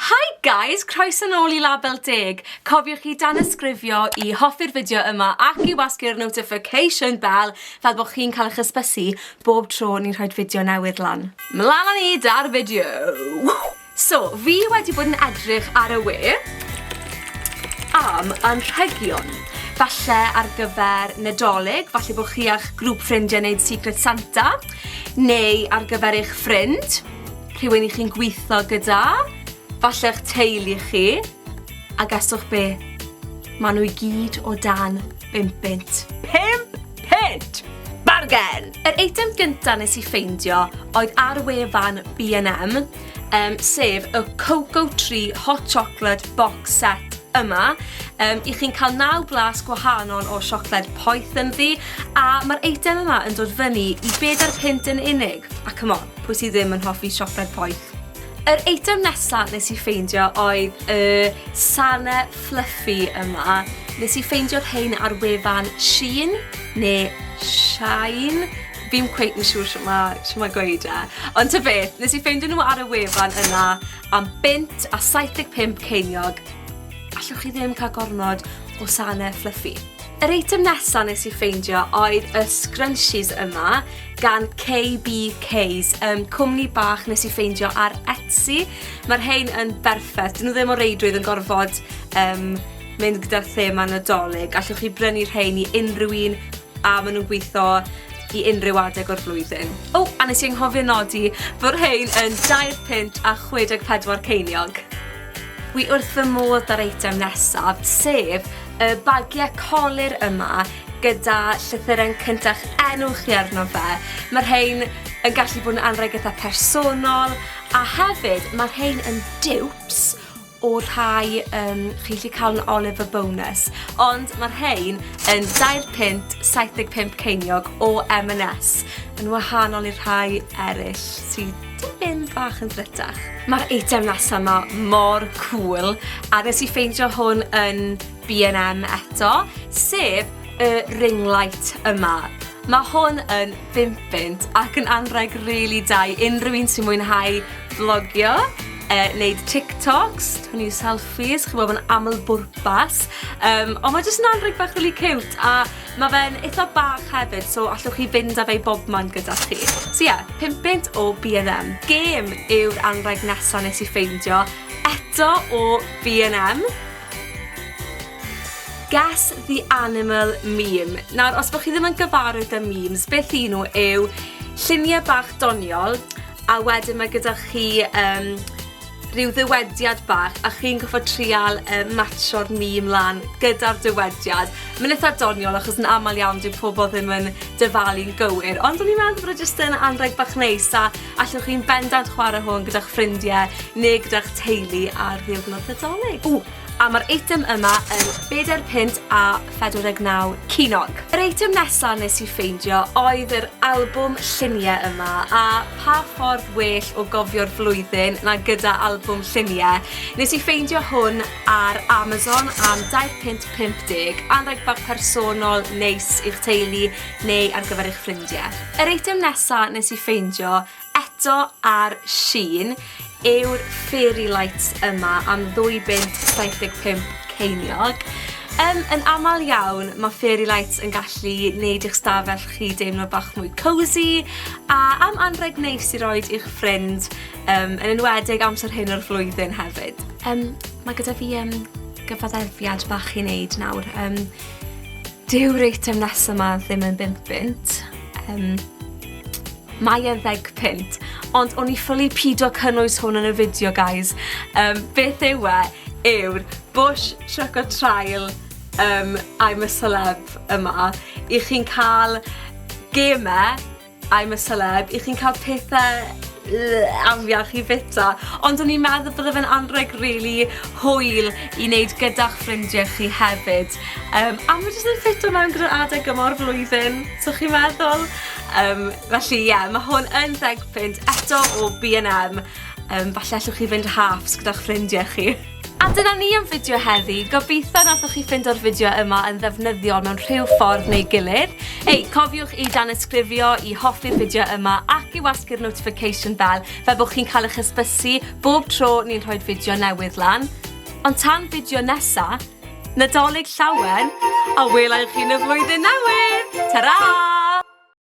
Hi guys! Croeso nôl i Label Deg! Cofiwch i danysgrifio i hoffi'r fideo yma ac i wasgu'r notification bell fel bod chi'n cael eich ysbysu bob tro ni'n rhoi'r fideo newydd lan. Mlan â ni 'da'r fideo! So, fi wedi bod yn edrych ar y we am anrhegion, falle ar gyfer Nadolig, falle bod chi a'ch grŵp ffrindiau wneud Secret Santa, neu ar gyfer eich ffrind, rhywun i chi'n gweithio gyda, falle eich teulu chi, a gaswch be? Mae nhw i gyd o dan 5 bint. 5 pint! Bargen! Yr eitem gyntaf nes i ffeindio oedd ar wefan B&M, um, sef y Cocoa Tree Hot Chocolate Box Set yma. Um, I chi'n cael naw blas gwahanol o siocled poeth yn ddi, a mae'r eitem yma yn dod fyny i bed ar pint yn unig. A come on, pwy sydd ddim yn hoffi siocled poeth? Yr eitem nesaf nes i ffeindio oedd y sane fluffy yma. Nes i ffeindio'r hein ar wefan Shein, neu Shine, Fi'm cweit yn siŵr shwt ma' shwt ma' gweud e. Ond ta beth, nes i ffeindio nhw ar y wefan yna am bunt a 75 ceiniog. Allwch chi ddim cael gormod o sane fluffy. Yr eitem nesa nes i ffeindio oedd y scrunchies yma gan KBK's, um, cwmni bach nes i ffeindio ar Etsy. Mae'r rhain yn berffaith, dyn nhw ddim o reidrwydd yn gorfod um, mynd gyda'r thema nadolig. Allwch chi brynu rhain i unrhyw un a ma' nw'n gwitho i unrhyw adeg o'r flwyddyn. O, a nes i anghofio nodi fod rhein yn 20 punt a 64 ceiniog. Wi wrth fy modd da'r eitem nesaf, sef y bagie colur yma gyda llythyren cynta'ch enw chi arno fe. Mae rhein yn gallu bod yn anrheg itha personol, a hefyd mae rhein yn dupes o rhai yym chi'n gallu cael yn Oliver Bonus, ond mae'r rhain yn dair punt 75 ceiniog o M&S, yn wahanol i'r rhai eraill sydd tipyn bach yn ddrytach. Mae'r eitem nesa 'ma mor cŵl, a nes i ffeindio hwn yn BNM eto, sef y ring light yma. Mae hwn yn bimpint ac yn anrheg rili really da i unrhyw un sy'n mwynhau vlogio, e, wneud TikToks, twnnu selfies, chi'n bod yn aml bwrpas. Um, ond mae jyst yn anrheg bach really cute a mae fe'n eitha bach hefyd, so allwch chi fynd â fe i bob man gyda chi. So ie, yeah, pimpint o B&M. Gêm yw'r anrheg nesaf nes i ffeindio, eto o B&M. Guess the animal meme. Nawr, os bod chi ddim yn gyfarwydd â memes, beth i nhw yw lluniau bach doniol, a wedyn mae gyda chi um, rhyw ddywediad bach a chi'n goffa trial um, matcho'r mîm lan gyda'r dywediad. Mae'n eitha doniol achos yn aml iawn dwi'n pobl ddim yn dyfalu'n gywir, ond o'n i'n meddwl bod e jyst yn anreg bach neis a Allwch chi'n bendant chwarae hwn gyda'ch ffrindiau neu gyda'ch teulu ar ddiwrnod Nadolig. Ww! A mae'r eitem yma yn bedair punt a phedwar deg naw ceiniog. Yr eitem nesa nes i ffeindio oedd yr albwm lluniau yma, a pa ffordd well o gofio'r flwyddyn na gyda albwm lluniau. Nes i ffeindio hwn ar Amazon am dair punt pump deg, anrheg bach personol neis i'ch teulu, neu ar gyfer eich ffrindiau. Yr eitem nesaf nes i ffeindio eto ar Shein yw'r fairy lights yma am ddwy bunt 75 ceiniog. Um, yn aml iawn, mae fairy lights yn gallu neud i'ch stafell chi deimlo bach mwy cosy a am anreg neis i roed i'ch ffrind, um, yn enwedig amser hyn o'r flwyddyn hefyd. Um, mae gyda fi um, gyfaddefiad bach i wneud nawr. Um, Dyw'r eitem nesaf ma ddim yn bimp bunt. Um, mae e'n ddeg punt. Ond o'n i ffylu pido cynnwys hwn yn y fideo, guys. Um, beth yw e? Yw'r Bush Choco Trial um, I'm a Celeb yma. I chi'n cael gemau I'm a celeb, i chi'n cael pethe yy afiach i fita, ond o'n i'n meddwl bydde fe'n anrheg rili hwyl i neud gyda'ch ffrindie chi hefyd, yym a ma' jyst yn ffito mewn gyda'r adeg yma o'r flwyddyn, so chi'n meddwl? Yym felly ie, ma' hwn yn ddeg punt, eto o Bee and Em, yym falle allwch chi fynd halfs gyda'ch ffrindie chi. A dyna ni am fideo heddi, gobeithio nathoch chi ffindo'r fideo yma yn ddefnyddiol mewn rhyw ffordd neu gilydd. Ei, cofiwch i danysgrifio, i hoffi'r fideo yma ac i wasgu'r notification bell fel bod chi'n cael eich hysbysu bob tro ni'n rhoi'r fideo newydd lan. Ond tan fideo nesa, Nadolig llawen, a welai chi yn y flwyddyn newydd! Ta-ra!